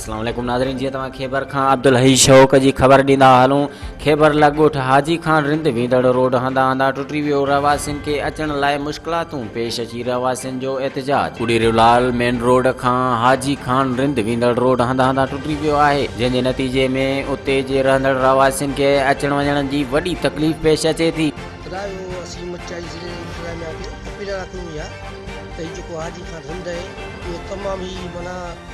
اسلام عليڪم ناظرين جيئن توهان خيبر کان عبدالحي شوق جي خبر ڏيندا هلون خيبر لڳ ڳوٺ حاجي خان رند ويندڙ روڊ هندا هندا ٽٽي ويو رهواسين کي اچڻ لاء مشڪلاتون پيش اچي رهواسين جو احتجاج ڪڙيريو لال مين روڊ کان حاجي خان رند ويندڙ روڊ هندا هندا ٽٽي ويو آهي جنهن جي نتيجي ۾ اتي جي رهندڙ رهواسين کي اچڻ وڃڻ جي وڏي تڪليف پيش اچي ٿي خدا جو اسين مچائي ضلعي انتظاميا کي اپيل رکون يا ته هي جيڪو حاجي خان رند آهي اهو تمام هي منع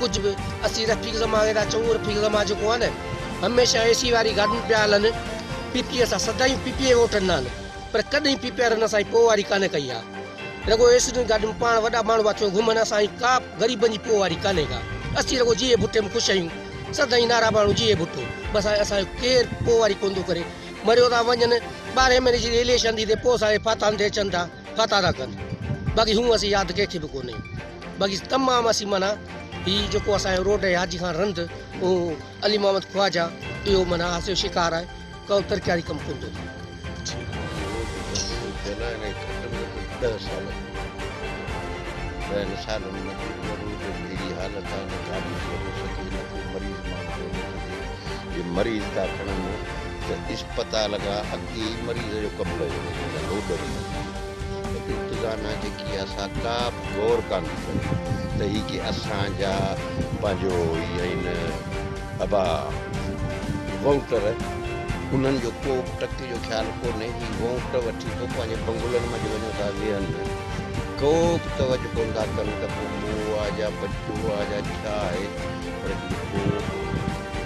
ڪجهه به اسين رفيق زمان کي ٿا چئون اهو رفيق زمان جيڪو آهي نه هميشه اي سي واري گاڏين پيا هلن پي پي اي سان سدائين پي پي اي ووٽ ڏنا آهن پر ڪڏهن پي پي آر هن سان پوئواري ڪانه ڪئي آهي رڳو اي سي جون گاڏيون پاڻ وڏا ماڻهو پيا ٿيو گهمن اسان جي ڪا غريبن جي پوئواري ڪانه ڪا اسين رڳو جيئي ڀٽي ۾ خوش آهيون سدائين نعرا ماڻهو جيئي ڀٽو بس هاڻي اسان جو ڪير پوئواري ڪونه ٿو ڪري مريو ٿا وڃن ٻارهين مهيني جي اليڪشن ٿي ته پوء اسان جي ڦاتاهن تي اچن ٿا ڦاتا ٿا ڪن باقي هون اسين ياد ڪنهن کي به ڪونه باقي تمام اسين معنيٰ هي جيڪو اسان جو روڊ آهي حاجي خان رند اهو علي محمد خواجه اهو معنيٰ اسان جو شڪار آهي ڪو ترقياتي ڪم ڪونه ٿو ٿئي اهي ئي مريض جو ڪم ڪيو ويندو ته لوڏ ڏني ويندي ته انتظاميا جيڪي آهي سا ڪا به غور ڪانه ٿي ڪري ته هي ڪي اسان جا پنهنجو ئي آهن ابا وونٽر انهن جو ڪو به ٽڪ جو خيال ڪونهي هي وونٽ وٺي پوء پنهنجي بنگلن منجهه وڃو ٿا ويهن ڪو به توجه ڪونه ٿا ڪن ته پوء مون آ جا بچو آ جا ڇا آهي پر جيڪو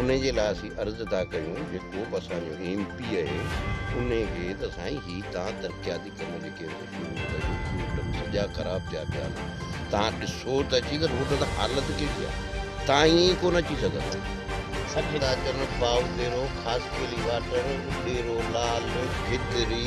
انهي جي لاء اسين عرض ٿا ڪيون جيڪو به اسان جو ايم پي اهي انهي کي ته سائين هي تهان ترقياتي ڪم جيڪي هن شروع ڪيا اهي روڊ به سڄا خراب ٿيا پيا آهن تهان ڏسو ته اچي ته روڊ تان حالت ڪهڙي آهي تهان ائين ئي ڪونه اچي سگهندا. سڄي ڏاچڻ، باوديرو، خاصخيلي واٽر، اڏيرو، لال، گدري،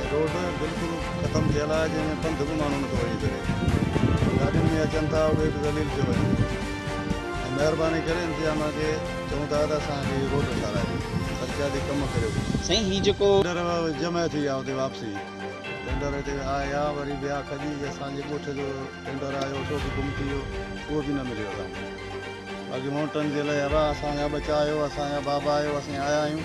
۽ روڊ بلڪل ختم ٿيل آهي جنهن ۾ پنڌ به ماڻهو نٿو وڃي سگهي گاڏين ۾ اچن ٿا اهي به ذليل ٿيو وڃن ٿيون ۽ مهرباني ڪري انتظاميا کي چئون ٿا ته اسان کي هي روڊ ٺاراهي ڏيو ترقياتي ڪم ڪريو ڪجهه. سائين هي جيڪو. ٽينڊر جمع ٿي ويا اتي واپسي ٽينڊر هتي آيا وري ويا کڄي اسان جي ڳوٺ جو ٽينڊر آيو اٽو به گم ٿي ويو اهو به نه مليو اسان کي باقي وونٽن جي لئه اھا اسان جا ٻچا آهيو اسان جا بابا آهيو اسين آيا آهيون.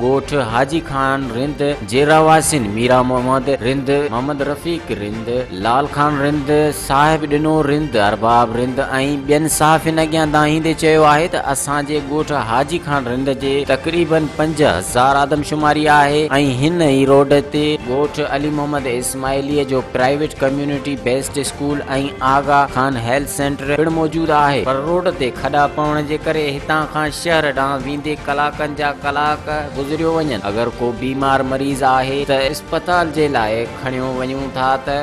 ڳوٺ حاجي خان رند جي رهواسين ميرا محمد رند، محمد رفيق رند، لال خان رند، صاحب ڏنو رند، ارباب رند ۽ ٻين صحافين اڳيان دانهيندي چيو آهي ته اسان جي ڳوٺ حاجي خان رند جي تقريبن پنج هزار آدمشماري آهي ۽ هن ئي روڊ تي ڳوٺ علي محمد اسماعيليه جو private community based school ۽ Aga Khan health centre پڻ موجود آهي پر روڊ تي کڏا پوڻ جي ڪري هتان کان شهر ڏانهن ويندي ڪلاڪن جا ڪلاڪ گذريو وڃن اگر ڪو بيمار مريض آهي ته اسپتال جي لاء کڻيو وڃون ٿا ته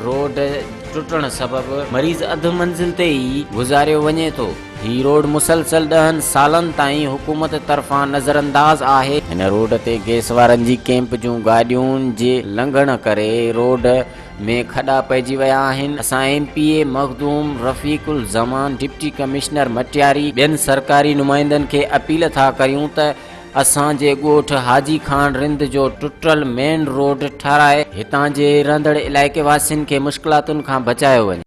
روڊ ٽٽڻ سبب مريض اڌ منزل تي ئي گذاريو وڃي ٿو. هي روڊ مسلسل ڏهن سالن تائين حڪومت طرفان نظرانداز آهي. هن روڊ تي گئس وارن جي ڪئمپ جون گاڏيون جي لنگهڻ ڪري روڊ ۾ کڏا پئجي ويا آهن، اسان M P A Makhdoom Rafiq Uzzaman, deputy commissioner Matiari, ٻين سرڪاري نمائندن کي اپيل ٿا ڪريون ته اسان جي ڳوٺ حاجي خان رند جو ٽٽل مين روڊ ٺهرائي هتان جي رهندڙ علائقي واسين کي مشڪلاتن کان بچايو وڃي.